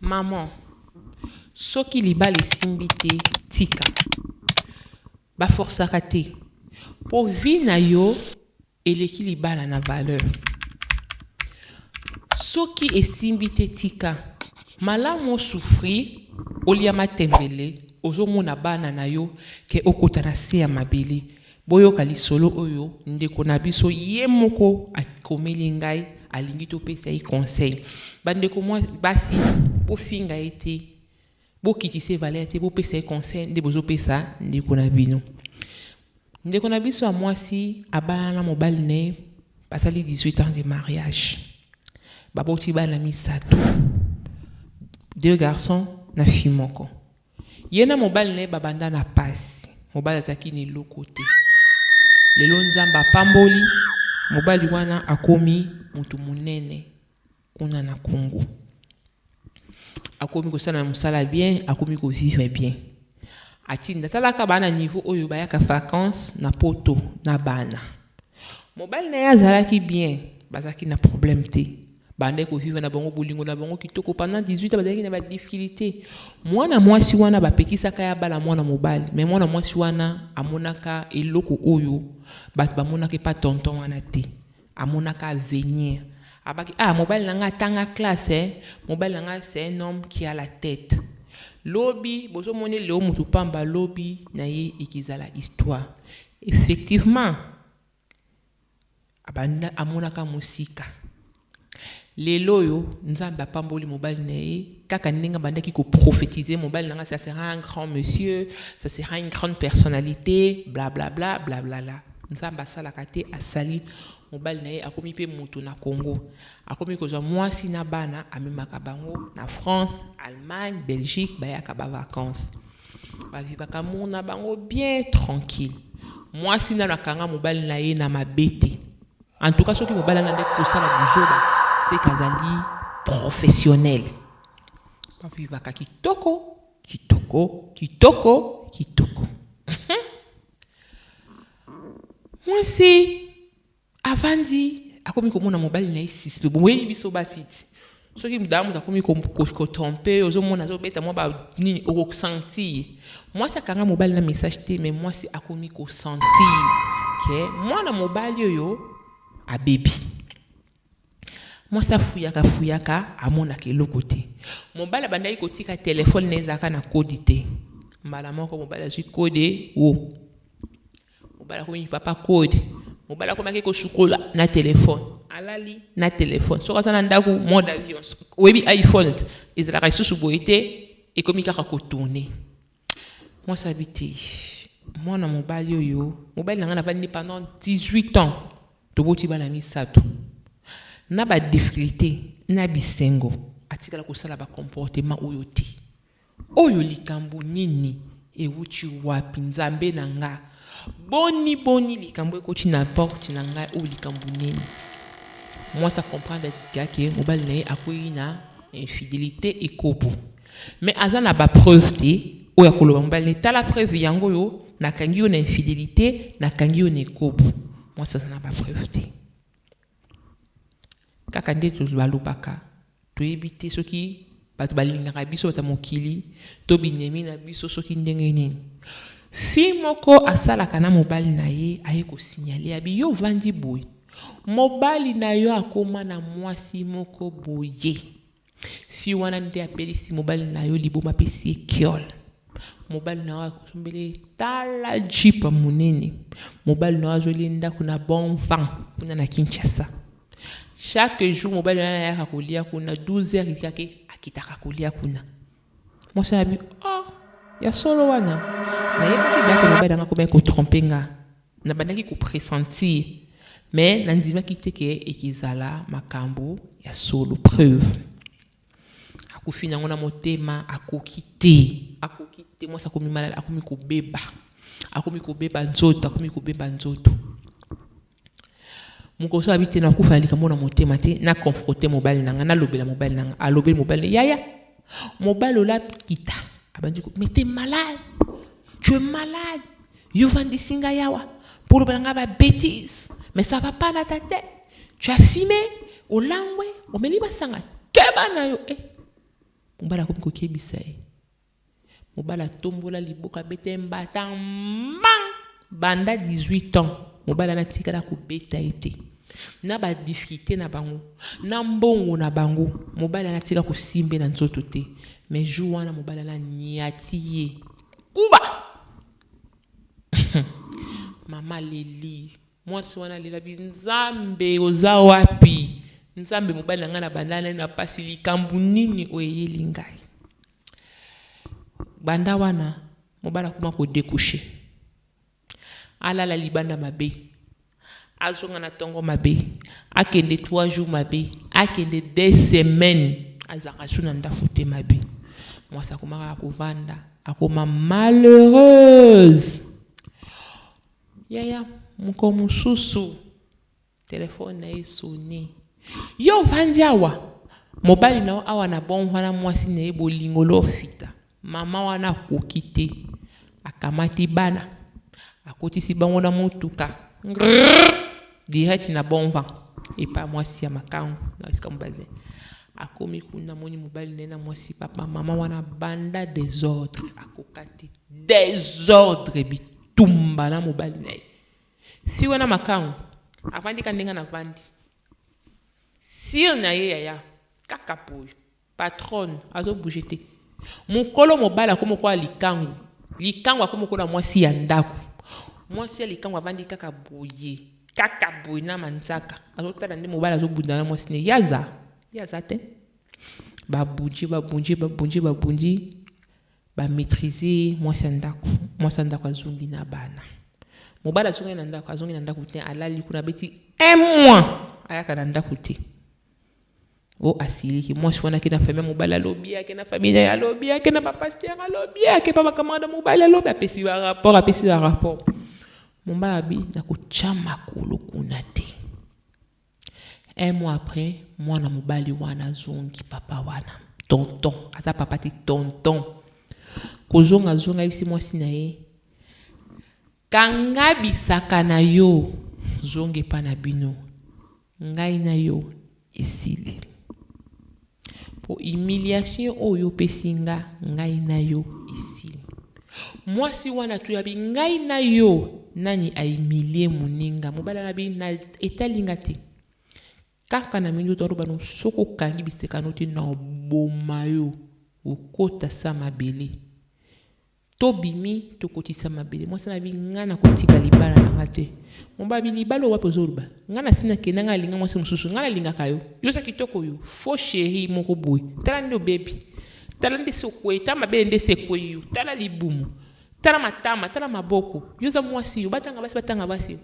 Maman soki libala esimbi te tika ba forcaka te po vie na yo eleki libala na valeur soki esimbi te tika malamu osouffrir olia matembele ozomona bana na yo ke okota na se ya mabele Boyoka lisolo oyo ndeko na biso ye moko akomeli ngai alingi topesa ye conseil. Ba ndeko basi bofinga ye te, bokitisa ye valeur te, bopesa ye conseil nde bozopesa ndeko na bino. Ndeko na biso ya mwasi abalana na mobali na ye basali 18 ans de mariage. Baboti bana misato, deux garçons na fille moko. Ye na mobali na ye babanda na pasi. Mobali azalaki na eloko te. Lelo Nzambe apamboli, mobali wana akomi mutu munene kuna na Congo. Akomi kosala musala bien, akomi ko vivre bien. Atinda, talaka bana niveau oyo bayaka vacances na poto na bana. Mobali na ye azalaki bien, bazalaki na problème te. Bandaki ko vivre na bango bolingo na bango kitoko pendant 18 ans bazalaki na ba difficultés. Mwana mwasi wana ba pekisaka ye abala mwana mobali, mais mwana mwasi wana amonaka eloko oyo batu bamonaka epa tonton wana te. Amonaka avenir. Abaki ah mobali na nga atanga classe eh, mobali na nga c'est un homme qui a la tete. Lobi bozo mona ye lelo mutu pamba lobi na ye ekezala histoire. Effectivement abanda amonaka musika lelo oyo nzambe apamboli mobali na ye kaka ndenge abandaki ko prophetise mobali na nga ça sera un grand monsieur ça sera une grande personnalité blablabla blablala nzambe asalaka te asali mobali na ye akomi mpe moto na congo akomi kozwa mwasi na bana amemaka bango na france allemagne belgique bayaka bavacance Ba vivaka amour na bango bien tranquille. Mwasi nanu akanga mobali na ye na mabe te. En tout cas soki mobali alandi kosala buzoba c'est que azali professionnel. Ba vivaka kitoko, kitoko, kitoko, kitoko. Mwasi Avandi akomi komona mobali na ye suspect. Boyebi biso basi ti soki mdamu akomi ko tromper yo ozomona azobeta mwa ba nini okosentir ye. Mwasi akanga mobali na message te mais mwasi akomi ko sentir que mwana mobali oyo abebi. Mwasi afuyaka fuyaka amonaka eloko te. Mobali abandaki kotika telephone na ye ezalaka na code te. Mbala moko mobali azwi code wo. Mobali akomi papa code. Mobali akomi ake kosukola na telefone. Alali na telefone. Soki aza na ndako mode avion. Oyebi iPhone ezalaka lisusu boye te ekomi kaka kotourne. Mwasi abi te. Mwana mobali oyo, mobali na ngai navandi pendant 18 ans. Toboti bana misato. Na ba difficultés, na bisengo, atikala kosala ba comportement oyo te. Oyo likambo nini? Ewuti wapi Nzambe na nga? Boni boni likambo ekoti na porte na ngai oyo likambo nini? Mwasi a comprendre ga ke mobali na ye akueyi na infidelite ekobo mais aza na ba preuves te oyo akoloba mobali na ye tala preuve yango oyo nakangi yo na infidelite nakangi yo na ekobo mwasi aza na ba preuves te. Kaka ndeti balobaka, toyebi te soki bato balingaka biso, bato ya mokili, to binemi na biso, soki ndenge nini. Fille moko asalaka na mobali na ye aye ko signaler, abi yo ovandi boye, mobali na yo akoma na mwasi moko boye. Fille wana nde apelisi mobali na yo liboma apesi ye kiol. Mobali na yo akosombeli ye tala jeep ya monene. Mobali na yo azweli ye ndako na bon vent kuna na Kinshasa. Chaque jour mobali wana ayaka kolia kuna 12 heures ekake akitaka kolia kuna. Mwasi alobi, oh, ya solo wana? Nayebaki date mobali nanga akomaki ko tromper nga. Nabandaki ko pressentir, mais nandimaki te que ekezala makambu ya solo. Preuve, akufi nango na motema, akoki te, akoki te. Mwasi akomi malal, akomi kobeba, akomi kobeba nzoto, akomi kobeba nzoto. Mokoso abi te nakufa ya likambo na motema te na confronter mobali na nga nalobela mobali na nga alobeli mobali na yaya mobali olapi kita abandi ko mais t'es malade tu es malade yo vandisi nga yawa mpo olobela nga ba bêtise mais ça va pas na ta tête tu as fumé olangwe omeli masanga keba na yo eh mobali akomi kokebisa ye Mobali atombola liboko abeta ye mbata mbang! Banda 18 ans, mobali wana atikala kobeta ye te. Na ba difficultes na bango, na mbongo na bango, mobali wana atika kosimbe na nzoto te. Mais jour wana mobali wana anyati ye. Kuba! Mama aleli. Mwasi wana alelabi, Nzambe oza wapi? Nzambe mobali na ngai na bandana na pasi likambo nini oyo eyeli ngai? Banda wana, mobali akoma ko decoucher, alala libanda mabe, azonga na tongo mabe, akende trois jours mabe, akende deux semaines, azalaka lisusu na ndafu te mabe. Mwasi akoma kaka kovanda, akoma malheureuse. Yaya, mokolo mosusu. Telephone na ye esoni. Yo ovandi awa mobali na yo awa na bongo wana mwasi na ye bolingo lofita mama wana akoki te akamati bana akotisi bango na motuka ngrrr direct na bonva epa mwasi ya makangu na esika mobali akomi kuna moni mobali na ye na mwasi papa mama wana banda desordre akoka te desordre bitumba na mobali na ye Fille wana makangu avandi ka ndenge navandi sire na ye yaya kaka boye patronne azo bouger te mukolo mobali akomi lokola likangu likangu akomi lokola mwasi ya ndako mwasi ya likangu avandi kaka boye kaka boye na manzaka azotala nde mobali azobunda na mwasi ne ye aza ye aza te babundi babundi babundi babundi Ba maitriser mwasi ya ndaku. Mwasi ya ndaku azongi na bana. Mobali azongi na ndaku, azongi na ndaku te, alali kuna abeti un mois ayaka na ndaku te. Oh asiliki mwasi wana ake na famille ya mobali alobi ake na famille na ye alobi ake na bapasteur alobi ake pa bacamarade ya mobali alobi apesi barapport apesi barapport mobali abi nakotya makolo kuna te Un mois après mwana mobali wana azongi papa wana tonton aza papa te tonton kozonga azongi ayebisi mwasi na ye kanga bisaka na yo zonga epa na bino ngai na yo esili Po humiliation oyo opesi nga, ngai na yo esili. Mwasi wana tu ya bi ngai na yo nani a humilier muninga? Mobali wana bi na etali nga te. Kaka na minduki aloba no soki okangi biseka no te na boma yo okota sa mabele. To bimi to kotisa mabele. Mwasi na bi nga na kotika libala na nga te. Mobali bi libala wapi ozoluba? Nga na sina kenda nga alinga mwasi mususu. Nga na lingaka yo. Yo sa kitoko yo. Faux cherie moko boye. Tala nde obebi. Tala nde si okweyi. Tala mabele nde si ekweyi yo. Tala libumu. Tala matama. Tala maboko. Yo za mwasi yo. Batanga basi batanga basi yo.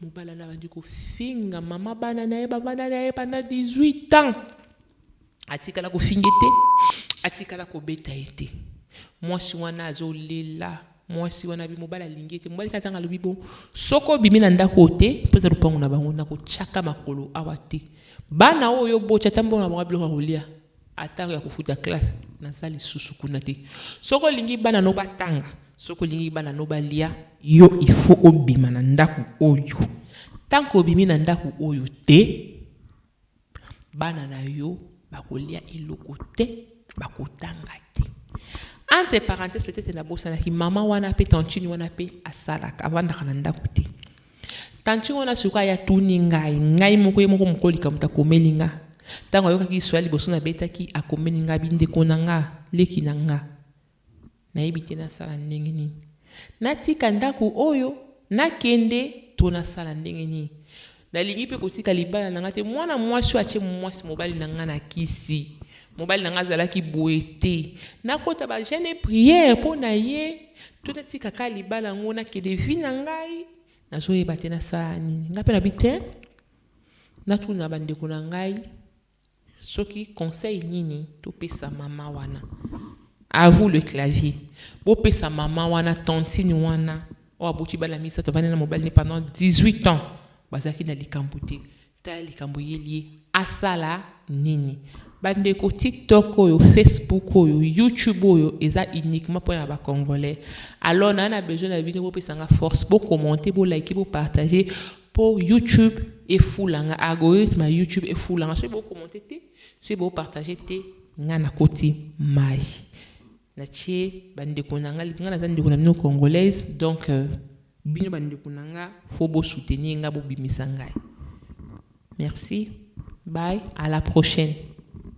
Mobala na bandi kofinga mama bana na ye bavanda na ye pendant 18 ans. Atikala ko finga ye te, atikala ko beta ye te. Mwasi wana azo lela, mwasi wana alobi mobali alingi ye te. Mobali kaka tango alobi bongo, soki obimi na ndako oyo te, po eza lopango na bango, nako tiaka makolo awa te. Bana oyo yo oboti, ata mbongo na bango ya biloko ya kolia, ata ya ko futa classe, naza lisusu kuna te. Soki olingi bana no ba tanga, soki olingi bana no ba lia, yo il faut obima na ndako oyo. Tant que obimi na ndako oyo te, Bana na yo bakolia eloko te, bakotanga te. Entre parenthèses, peut-être na bosanaki maman wana pe tantine wana pe asalaka, avandaka na ndako te. Tantine wana suka ya tuni ngai, ngai moko ye moko mokoli kamuta komeli nga. Tango ayokaki soit liboso na betaki, akomeli nga bindeko na nga, leki na nga. Nayebi te nasala ndenge nini. Natika ndako oyo, nakende to nasala ndenge nini. Nalingi pe kotika libala na ngai te. Mwana mwasi oyo atie mwasi mobali na ngai na kisi. Mobali na ngai azalaki boye te. Nakota ba jeune et prière po na ye to natika ka libala yango nakende vie na ngai. Nazoyeba te nasala nini. Ngai pe nabi te. Natuna ba ndeko na ngai. Soki conseil nini to pesa maman wana? A vous le clavier. Bo pesa maman wana, tantine wana, oyo aboti bana misato, avandi na mobali ne pendant 18 ans, bazalaki na likambo te. Tala likambo eyeli ye, asala nini? Ba ndeko tiktok oyo, facebook oyo, youtube oyo eza uniquement pona ba congolais. Alors na na besoin na bino bo pesa nga force, bo commenter, bo liker, bo partager Po YouTube efula nga algorithme ya YouTube efula nga soki bo commenter te soki bo partager te nga na koti mayi na tie ba ndeko na nga nga naza ndeko na bino congolaise donc euh, bino ba ndeko na nga faut bo soutenir nga bo bimisa ngai merci bye à la prochaine